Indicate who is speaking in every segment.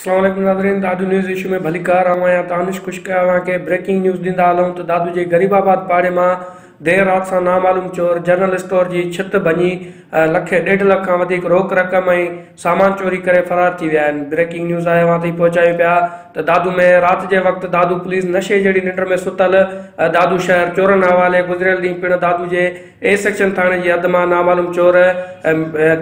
Speaker 1: اسلام عليڪم ناظرين دادو نيوز ايشو ۾ ڀليڪار آئون آهيان تانش خشڪ اوهان کي بريڪنگ نيوز ڏيندا هلون ته دادو جي غريب آباد پاڙي مان دير رات سان نامعلوم چور جنرل اسٽور جي ڇت ڀڃي لک ڏيڍ لک کان وڌيڪ روڪ رقم ۽ سامان چوري ڪري فرار ٿي ويا آهن بريڪنگ نيوز آء اوهان تائين پهچايون پيا ته دادو ۾ رات جي وقت دادو پوليس نشي جهڙي ننڊ ۾ ستل دادو شهر چورن حوالي گذريل ڏينهن پڻ دادو جي اي سيڪشن ٿاڻي جي حد مان نامعلوم چور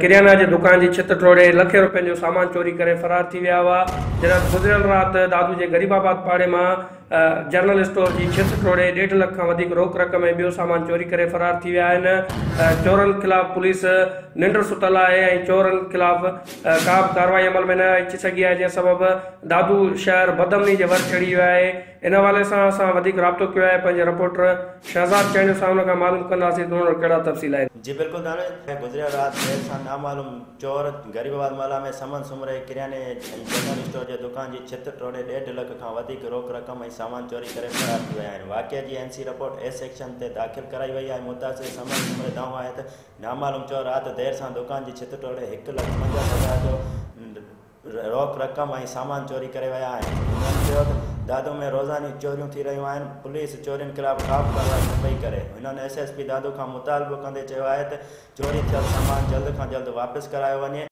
Speaker 1: ڪريانا جي دڪان جي ڇت ٽوڙي لکين روپين جو سامان چوري ڪري فرار ٿي ويا هئا جڏهن ته گذريل رات دادو جي غريب آباد پاڙي مان جنرل اسٽور جي ڇت ٽوڙي ڏيڍ لک کان وڌيڪ روڪ رقم ۽ ٻيو سامان چوري ڪري فرار ٿي ويا آهن، چورن خلاف پوليس ننڊ ستل آهي ۽ چورن خلاف ڪا به ڪارروائي عمل ۾ نه اچي سگهي آهي جنهن سبب دادو شهر بدامني جي ور چڙهي ويو آهي ان حوالي سان اسان وڌيڪ رابطو ڪيو آهي پنهنجي رپورٽر شهزاد چانڊيو صاحب کان معلوم ڪنداسين ته ان وٽ ڪهڙا تفصيل آهن. جي بلڪل دانش،
Speaker 2: کي گذريل رات دير سان نامعلوم. چور غريب آباد محلا ۾ سمن سومري ڪرياني ۽ جنرل اسٽور جي دڪان جي ڇت ٽوڙي ڏيڍ لک کان وڌيڪ روڪ رقم ۽ سامان چوري ڪري فرار ٿي ويا آهن واقعي جي N C report A section تي داخل ڪرائي وئي آهي متاثر سمن سومري دانهون آهي ته نامعلوم چور رات دير سان دڪان جي ڇت ٽوڙي هڪ لک پنجاهه هزار جو روڪ رقم ۽ سامان چوري ڪري ويا آهن هنن چيو ته دادو ۾ روزاني چوريون ٿي رهيون آهن پوليس چورين خلاف ڪابه ڪارروائي نه پئي ڪري هنن ايس ايس پي دادو کان مطالبو ڪندي چيو آهي ته چوري ٿيل سامان جلد کان جلد واپس ڪرايو وڃي.